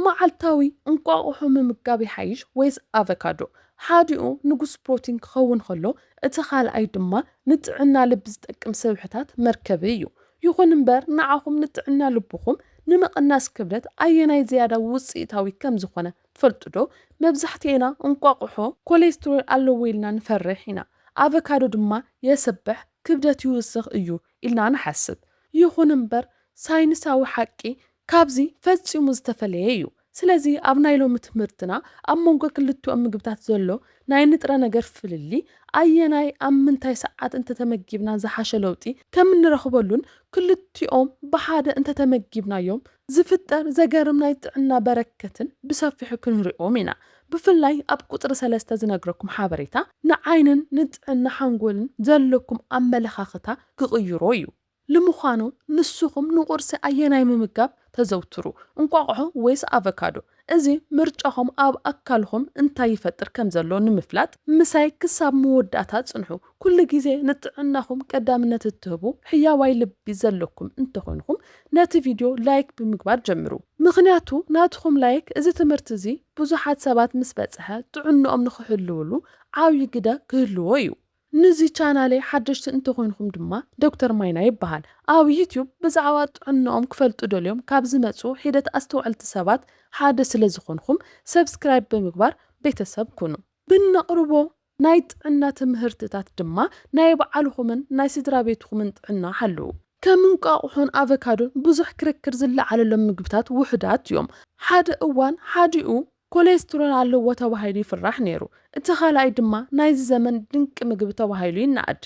መዓልታዊ እንቋቝሖ ምምጋብ ይሓይሽ ወይስ ኣቨካዶ? ሓዲኡ ንጉስ ፕሮቲን ክኸውን ከሎ፣ እቲ ኻልኣይ ድማ ንጥዕና ልቢ ዝጠቅም ስብሕታት መርከቢ እዩ። ይኹን እምበር፣ ንዓኹም ንጥዕና ልብኹም ንምቕናስ ክብደት ኣየናይ ዝያዳ ውጽኢታዊ ከም ዝዀነ ትፈልጡዶ? መብዛሕትኤና እንቋቝሖ ኮሌስትሮል ኣለዎ ኢልና ንፈርሕ ኢና፣ ኣቨካዶ ድማ የስብሕ፣ ክብደት ይውስኽ፣ እዩ ኢልና ንሓስብ። ይኹን እምበር፣ ሳይንሳዊ ሓቂ ካብዚ ፈጺሙ ዝተፈለየ እዩ። ስለዚ ኣብ ናይ ሎሚ ትምህርትና ኣብ መንጎ ክልቲኦም ምግብታት ዘሎ ናይ ንጥረ ነገር ፍልልይ፣ ኣየናይ ኣብ ምንታይ ሰዓት እንተተመጊብና ዝሓሸ ለውጢ ከም እንረኽበሉን ክልቲኦም ብሓደ እንተተመጊብናዮም ዝፍጠር ዘገርም ናይ ጥዕና በረከትን ብሰፊሑ ክንሪኦም ኢና። ብፍላይ ኣብ ቁጽሪ ሰለስተ ዝነግረኩም ሓበሬታ ንዓይንን ንጥዕና ሓንጎልን ዘለኩም ኣመለኻኽታ ክቕይሮ እዩ። ልምዃኑ ንስኹም ንቁርሲ ኣየናይ ምምጋብ ተዘውትሩ፣ እንቋቑሖ ወይስ ኣቨካዶ? እዚ ምርጫኹም ኣብ ኣካልኹም እንታይ ይፈጥር ከም ዘሎ ንምፍላጥ ምሳይ ክሳብ መወዳእታ ጽንሑ። ኩሉ ግዜ ንጥዕናኹም ቀዳምነት እትህቡ ሕያዋይ ልቢ ዘለኩም እንተኾይንኩም ነቲ ቪድዮ ላይክ ብምግባር ጀምሩ። ምኽንያቱ ናትኹም ላይክ እዚ ትምህርቲ እዚ ብዙሓት ሰባት ምስ በጽሐ ጥዕንኦም ንኽሕልውሉ ዓብዪ ግደ ክህልዎ እዩ። ንዚ ቻናለይ ሓደሽቲ እንተኾይንኩም ድማ ዶክተር ማይና ይበሃል። ኣብ ዩቱብ ብዛዕባ ጥዕንኦም ክፈልጡ ደልዮም ካብ ዝመጽኡ ሒደት ኣስተውዐልቲ ሰባት ሓደ ስለ ዝኾንኹም ሰብስክራይብ ብምግባር ቤተሰብ ኩኑ። ብነቕርቦ ናይ ጥዕና ትምህርትታት ድማ ናይ ባዕልኹምን ናይ ስድራቤትኹምን ጥዕና ሓልዉ። ከም እንቋቑሖን ኣቨካዶን ብዙሕ ክርክር ዝለዓለሎም ምግብታት ውሑዳት እዮም። ሓደ እዋን ሓዲኡ ኮሌስትሮል ኣለዎ ተባሂሉ ይፍራሕ ነይሩ፣ እቲ ካልኣይ ድማ ናይዚ ዘመን ድንቂ ምግቢ ተባሂሉ ይነኣድ።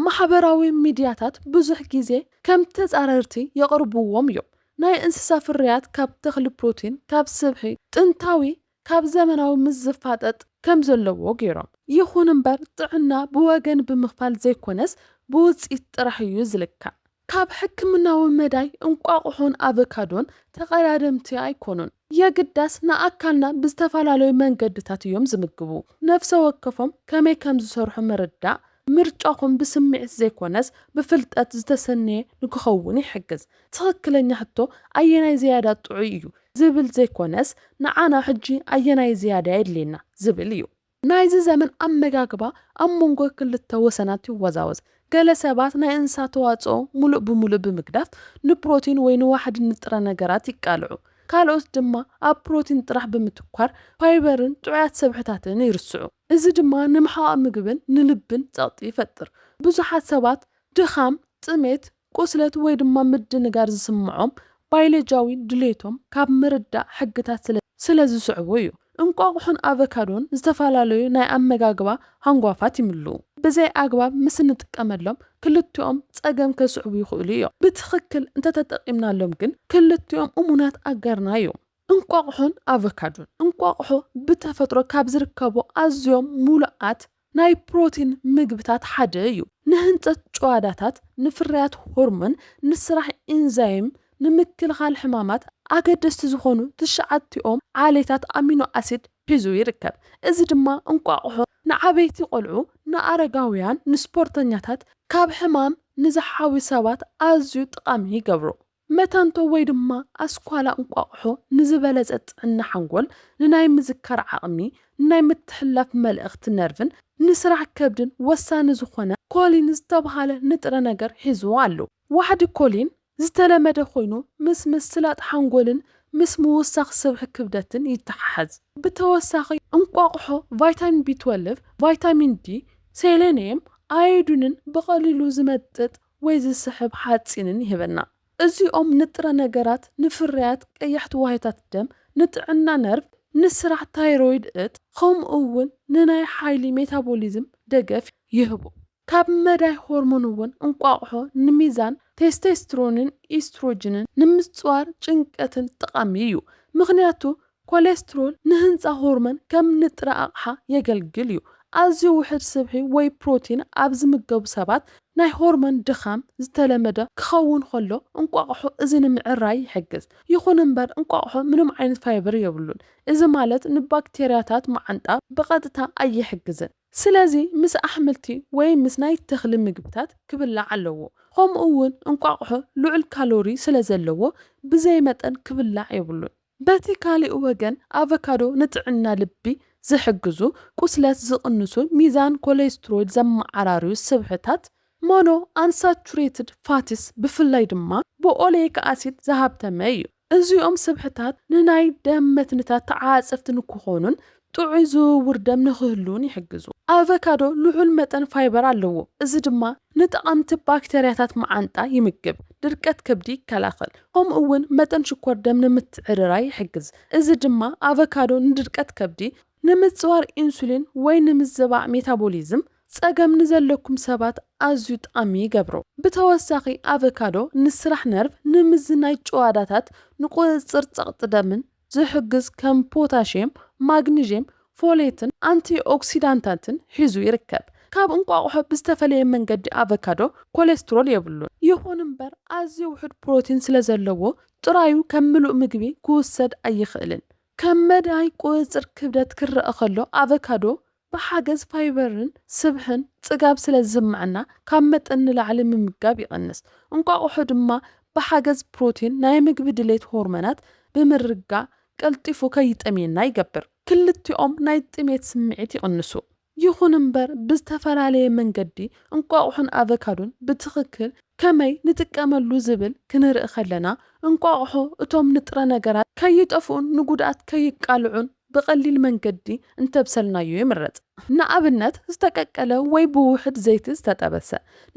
ማሕበራዊ ሚድያታት ብዙሕ ግዜ ከም ተጻረርቲ የቕርብዎም እዮም። ናይ እንስሳ ፍርያት ካብ ተኽሊ ፕሮቲን፣ ካብ ስብሒ፣ ጥንታዊ ካብ ዘመናዊ ምስ ዝፋጠጥ ከም ዘለዎ ገይሮም። ይኹን እምበር ጥዕና ብወገን ብምኽፋል ዘይኮነስ ብውጽኢት ጥራሕ እዩ ዝልካዕ። ካብ ሕክምናዊ መዳይ እንቋቑሖን ኣቨካዶን ተቐዳደምቲ ኣይኮኑን። የግዳስ ንኣካልና ብዝተፈላለዩ መንገድታት እዮም ዝምግቡ። ነፍሰ ወከፎም ከመይ ከም ዝሰርሑ ምርዳእ፣ ምርጫኹም ብስምዒት ዘይኮነስ ብፍልጠት ዝተሰነየ ንክኸውን ይሕግዝ። ትኽክለኛ ሕቶ ኣየናይ ዝያዳ ጥዑይ እዩ ዝብል ዘይኮነስ ንዓና ሕጂ ኣየናይ ዝያዳ የድልየና ዝብል እዩ። ናይዚ ዘመን ኣመጋግባ ኣብ መንጎ ክልተ ወሰናት ይወዛወዝ። ገለ ሰባት ናይ እንስሳ ተዋጽኦ ምሉእ ብምሉእ ብምግዳፍ ንፕሮቲን ወይ ንዋሕዲ ንጥረ ነገራት ይቃልዑ። ካልኦት ድማ ኣብ ፕሮቲን ጥራሕ ብምትኳር ፋይበርን ጥዑያት ሰብሕታትን ይርስዑ። እዚ ድማ ንምሕቓቕ ምግብን ንልብን ጸቕጢ ይፈጥር። ብዙሓት ሰባት ድኻም፣ ጥሜት፣ ቁስለት ወይ ድማ ምድንጋር ዝስምዖም ባይሎጂያዊ ድሌቶም ካብ ምርዳእ ሕግታት ስለ ዝስዕቡ እዩ። እንቋቑሖን ኣቨካዶን ዝተፈላለዩ ናይ ኣመጋግባ ሃንጓፋት ይምልኡ። ብዘይ ኣግባብ ምስ እንጥቀመሎም ክልቲኦም ጸገም ከስዕቡ ይኽእሉ እዮም። ብትኽክል እንተተጠቒምናሎም ግን ክልቲኦም እሙናት ኣጋርና እዮም። እንቋቑሖን ኣቨካዶን፣ እንቋቑሖ ብተፈጥሮ ካብ ዝርከቡ ኣዝዮም ምሉኣት ናይ ፕሮቲን ምግብታት ሓደ እዩ። ንህንጸት ጭዋዳታት፣ ንፍርያት ሆርሞን፣ ንስራሕ ኢንዛይም፣ ንምክልኻል ሕማማት ኣገደስቲ ዝኾኑ ትሽዓቲኦም ዓሌታት ኣሚኖ ኣሲድ ሒዙ ይርከብ። እዚ ድማ እንቋቑሖ ንዓበይቲ ቆልዑ፣ ንኣረጋውያን፣ ንስፖርተኛታት፣ ካብ ሕማም ንዝሓውዩ ሰባት ኣዝዩ ጥቓሚ ይገብሮ። መታንቶ ወይ ድማ ኣስኳላ እንቋቑሖ ንዝበለጸ ጥዕና ሓንጎል፣ ንናይ ምዝካር ዓቕሚ፣ ንናይ ምትሕልላፍ መልእኽቲ ነርቭን ንስራሕ ከብድን ወሳኒ ዝኾነ ኮሊን ዝተብሃለ ንጥረ ነገር ሒዙ ኣሎ። ዋሕዲ ኮሊን ዝተለመደ ኮይኑ ምስ ምስላጥ ሓንጎልን ምስ ምውሳኽ ስብሒ ክብደትን ይተሓሓዝ። ብተወሳኺ እንቋቑሖ ቫይታሚን ቢ-ትወልቭ፣ ቫይታሚን ዲ፣ ሴሌንየም፣ ኣዮዲንን ብቐሊሉ ዝመጥጥ ወይ ዝስሕብ ሓጺንን ይህበና። እዚኦም ንጥረ ነገራት፣ ንፍርያት ቀያሕቲ ዋህዮታት ደም፣ ንጥዕና ነርቭ፣ ንስራሕ ታይሮይድ እት፣ ከምኡ እውን ንናይ ሓይሊ ሜታቦሊዝም ደገፍ ይህቡ። ካብ መዳይ ሆርሞን እውን እንቋቑሖ ንሚዛን ቴስቴስትሮንን ኢስትሮጅንን ንምጽዋር ጭንቀትን ጠቓሚ እዩ፣ ምኽንያቱ ኮሌስትሮል ንህንጻ ሆርሞን ከም ንጥረ ኣቕሓ የገልግል እዩ። ኣዝዩ ውሑድ ስብሒ ወይ ፕሮቲን ኣብ ዝምገቡ ሰባት ናይ ሆርሞን ድኻም ዝተለመደ ክኸውን ከሎ፣ እንቋቑሖ እዚ ንምዕራይ ይሕግዝ። ይኹን እምበር እንቋቑሖ ምንም ዓይነት ፋይበር የብሉን፣ እዚ ማለት ንባክቴርያታት መዓንጣ ብቐጥታ ኣይሕግዝን። ስለዚ ምስ ኣሕምልቲ ወይ ምስ ናይ ተኽሊ ምግብታት ክብላዕ ኣለዎ። ከምኡ'ውን እንቋቑሖ ልዑል ካሎሪ ስለዘለዎ ብዘይ መጠን ክብላዕ የብሉን። በቲ ካሊእ ወገን ኣቨካዶ ንጥዕና ልቢ ዝሕግዙ፣ ቁስለት ዝቕንሱ፣ ሚዛን ኮሌስትሮይድ ዘመዓራርዩ ስብሕታት፣ ሞኖ ኣንሳቹሬትድ ፋቲስ፣ ብፍላይ ድማ ብኦሌይክ ኣሲድ ዝሃብተመ እዩ። እዚኦም ስብሕታት ንናይ ደም መትንታት ተዓፃፀፍቲ ንክኾኑን ጥዑይ ዝውውር ደም ንኽህሉን ይሕግዙ። ኣቨካዶ ልዑል መጠን ፋይበር ኣለዎ፣ እዚ ድማ ንጠቓምቲ ባክተርያታት መዓንጣ ይምግብ፣ ድርቀት ከብዲ ይከላኸል፣ ከምኡ'ውን መጠን ሽኮር ደም ንምትዕርራይ ይሕግዝ፣ እዚ ድማ ኣቨካዶ ንድርቀት ከብዲ፣ ንምጽዋር ኢንሱሊን ወይ ንምዝባዕ ሜታቦሊዝም ጸገም ንዘለኩም ሰባት ኣዝዩ ጠቓሚ ይገብሮ። ብተወሳኺ ኣቨካዶ ንስራሕ ነርቭ፣ ንምዝናይ ጭዋዳታት፣ ንቁጽጽር ጸቕጢ ደምን ዝሕግዝ ከም ፖታሽየም፣ ማግኒዥየም፣ ፎሌትን ኣንቲኦክሲዳንታትን ሒዙ ይርከብ። ካብ እንቋቑሖ ብዝተፈለየ መንገዲ ኣቮካዶ ኮሌስትሮል የብሉን። ይኹን እምበር ኣዝዩ ውሑድ ፕሮቲን ስለ ዘለዎ ጥራዩ ከም ምሉእ ምግቢ ክውሰድ ኣይኽእልን። ከም መዳይ ቁጽጽር ክብደት ክረኣ ከሎ ኣቮካዶ ብሓገዝ ፋይበርን ስብሕን ጽጋብ ስለ ዝስምዐና ካብ መጠን ንላዕሊ ምምጋብ ይቕንስ። እንቋቑሖ ድማ ብሓገዝ ፕሮቲን ናይ ምግቢ ድሌት ሆርመናት ብምርጋእ ቀልጢፉ ከይጠምየና ይገብር። ክልቲኦም ናይ ጥሜት ስምዒት ይቕንሱ። ይኹን እምበር ብዝተፈላለየ መንገዲ እንቋቑሖን ኣቨካዶን ብትኽክል ከመይ ንጥቀመሉ ዝብል ክንርኢ ከለና እንቋቑሖ እቶም ንጥረ ነገራት ከይጠፍኡን ንጉድኣት ከይቃልዑን፣ ብቐሊል መንገዲ እንተብሰልናዮ ይምረጽ። ንኣብነት ዝተቀቀለ ወይ ብውሑድ ዘይቲ ዝተጠበሰ።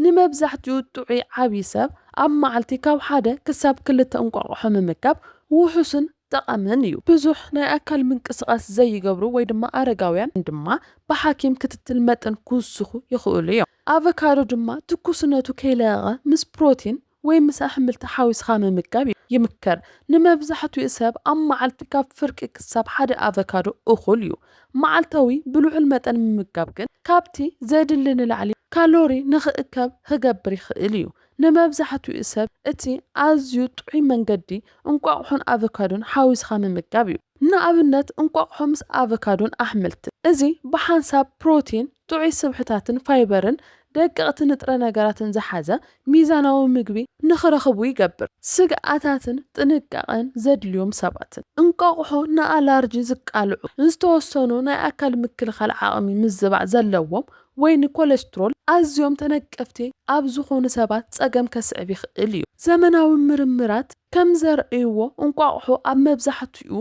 ንመብዛሕትኡ ጥዑይ ዓቢ ሰብ ኣብ መዓልቲ ካብ ሓደ ክሳብ ክልተ እንቋቑሖ ምምጋብ ውሑስን ጠቓምን እዩ። ብዙሕ ናይ ኣካል ምንቅስቓስ ዘይገብሩ ወይ ድማ ኣረጋውያን ድማ ብሓኪም ክትትል መጠን ክውስኹ ይኽእሉ እዮም። ኣቨካዶ ድማ ትኩስነቱ ከይለቐቐ ምስ ፕሮቲን፣ ወይ ምስ ኣሕምልቲ ሓዊስኻ ምምጋብ ይምከር። ንመብዛሕትኡ ሰብ ኣብ መዓልቲ ካብ ፍርቂ ክሳብ ሓደ ኣቨካዶ እኹል እዩ። መዓልታዊ ብልዑል መጠን ምምጋብ ግን ካብቲ ዘድሊ ንላዕሊ ካሎሪ ንኽእከብ ኽገብር ይኽእል እዩ። ንመብዛሕትኡ ሰብ እቲ ኣዝዩ ጥዑይ መንገዲ እንቋቑሖን ኣቨካዶን ሓዊስኻ ምምጋብ እዩ። ንኣብነት እንቋቑሖ ምስ ኣቨካዶን ኣሕምልትን። እዚ ብሓንሳብ ፕሮቲን፣ ጥዑይ ስብሕታትን ፋይበርን ደቀቕቲ ንጥረ ነገራትን ዝሓዘ ሚዛናዊ ምግቢ ንኽረኽቡ ይገብር። ስግኣታትን ጥንቃቐን ዘድልዮም ሰባትን። እንቋቑሖ ንኣላርጂ ዝቃልዑ፣ ዝተወሰኑ ናይ ኣካል ምክልኻል ዓቕሚ ምዝባዕ ዘለዎም ወይ ንኮለስትሮል ኣዝዮም ተነቀፍቲ ኣብ ዝኾኑ ሰባት ጸገም ከስዕብ ይኽእል እዩ። ዘመናዊ ምርምራት ከም ዘርእይዎ እንቋቑሖ ኣብ መብዛሕትኡ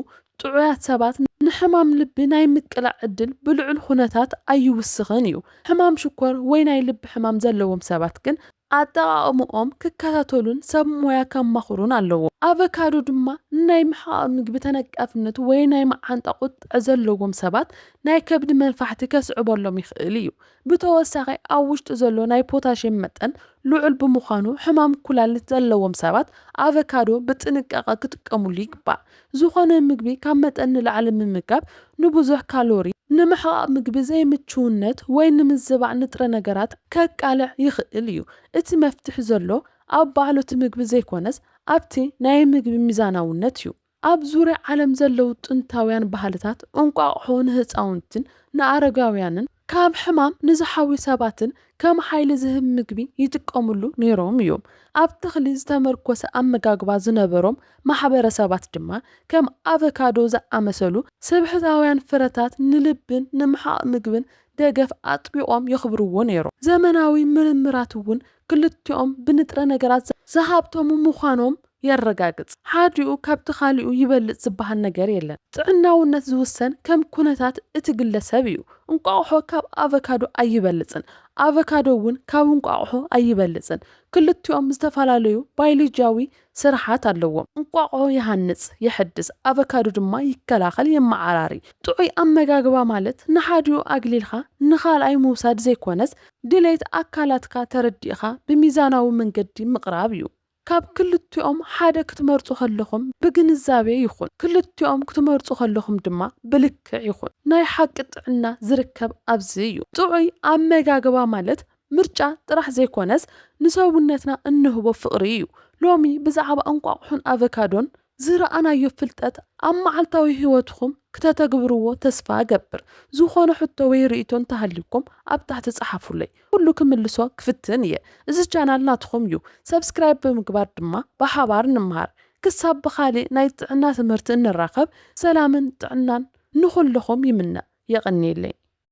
ጥዑያት ሰባት ንሕማም ልቢ ናይ ምቅላዕ ዕድል ብልዑል ኹነታት ኣይውስኽን እዩ። ሕማም ሽኮር ወይ ናይ ልቢ ሕማም ዘለዎም ሰባት ግን ኣጠቓቕምኦም ክከታተሉን ሰብ ሞያ ከማኽሩን ኣለዎም። ኣቨካዶ ድማ ንናይ ምሕቓቕ ምግቢ ተነቃፍነት ወይ ናይ መዓንጣ ቁጥዐ ዘለዎም ሰባት ናይ ከብዲ መንፋሕቲ ከስዕበሎም ይኽእል እዩ። ብተወሳኺ ኣብ ውሽጡ ዘሎ ናይ ፖታሽየም መጠን ልዑል ብምዃኑ ሕማም ኩላሊት ዘለዎም ሰባት ኣቨካዶ ብጥንቃቐ ክጥቀሙሉ ይግባእ። ዝኾነ ምግቢ ካብ መጠን ንላዕሊ ምምጋብ ንብዙሕ ካሎሪ፣ ንምሕቓቕ ምግቢ ዘይምቹውነት ወይ ንምዝባዕ ንጥረ ነገራት ከቃልዕ ይኽእል እዩ። እቲ መፍትሒ ዘሎ ኣብ ባዕሉ እቲ ምግቢ ዘይኮነስ ኣብቲ ናይ ምግቢ ሚዛናውነት እዩ። ኣብ ዙርያ ዓለም ዘለዉ ጥንታውያን ባህልታት እንቋቑሖ ንህጻውንትን ንኣረጋውያንን፣ ካብ ሕማም ንዝሓውዩ ሰባትን ከም ሓይሊ ዝህብ ምግቢ ይጥቀምሉ ነይሮም እዮም። ኣብ ተኽሊ ዝተመርኮሰ ኣመጋግባ ዝነበሮም ማሕበረሰባት ድማ ከም ኣቨካዶ ዝኣመሰሉ ስብሕታውያን ፍረታት ንልብን ንምሓቕ ምግብን ደገፍ ኣጥቢቖም የኽብርዎ ነይሮም። ዘመናዊ ምርምራት እውን ክልቲኦም ብንጥረ ነገራት ዝሃብተሙ ምዃኖም የረጋግጽ። ሓዲኡ ካብቲ ካሊኡ ይበልጽ ዝበሃል ነገር የለን። ጥዕናውነት ዝውሰን ከም ኩነታት እቲ ግለሰብ እዩ። እንቋቑሖ ካብ ኣቨካዶ ኣይበልጽን፣ ኣቨካዶ እውን ካብ እንቋቑሖ ኣይበልጽን። ክልቲኦም ዝተፈላለዩ ባይሎጂያዊ ስርሓት ኣለዎ። እንቋቑሖ ይሃንጽ፣ የሕድስ፣ ኣቨካዶ ድማ ይከላኸል፣ የመዓራሪ። ጥዑይ ኣመጋግባ ማለት ንሓዲኡ ኣግሊልካ ንኻልኣይ ምውሳድ ዘይኮነስ ድሌት ኣካላትካ ተረዲእኻ ብሚዛናዊ መንገዲ ምቕራብ እዩ። ካብ ክልቲኦም ሓደ ክትመርጹ ከለኹም ብግንዛቤ ይኹን፣ ክልቲኦም ክትመርጹ ከለኹም ድማ ብልክዕ ይኹን። ናይ ሓቂ ጥዕና ዝርከብ ኣብዚ እዩ። ጥዑይ ኣመጋግባ ማለት ምርጫ ጥራሕ ዘይኮነስ ንሰውነትና እንህቦ ፍቕሪ እዩ። ሎሚ ብዛዕባ እንቋቑሖን ኣቨካዶን ዝረኣናዮ ፍልጠት ኣብ መዓልታዊ ህይወትኹም ክተተግብርዎ ተስፋ እገብር። ዝኾነ ሕቶ ወይ ርኢቶ እንተሃልዩኩም ኣብ ታሕቲ ጸሓፉለይ ኩሉ ክምልሶ ክፍትን እየ። እዚ ቻናል ናትኹም እዩ ሰብስክራይብ ብምግባር ድማ ብሓባር ንመሃር። ክሳብ ብኻሊእ ናይ ጥዕና ትምህርቲ እንራኸብ ሰላምን ጥዕናን ንኹልኹም ይምነ። የቐንየለይ።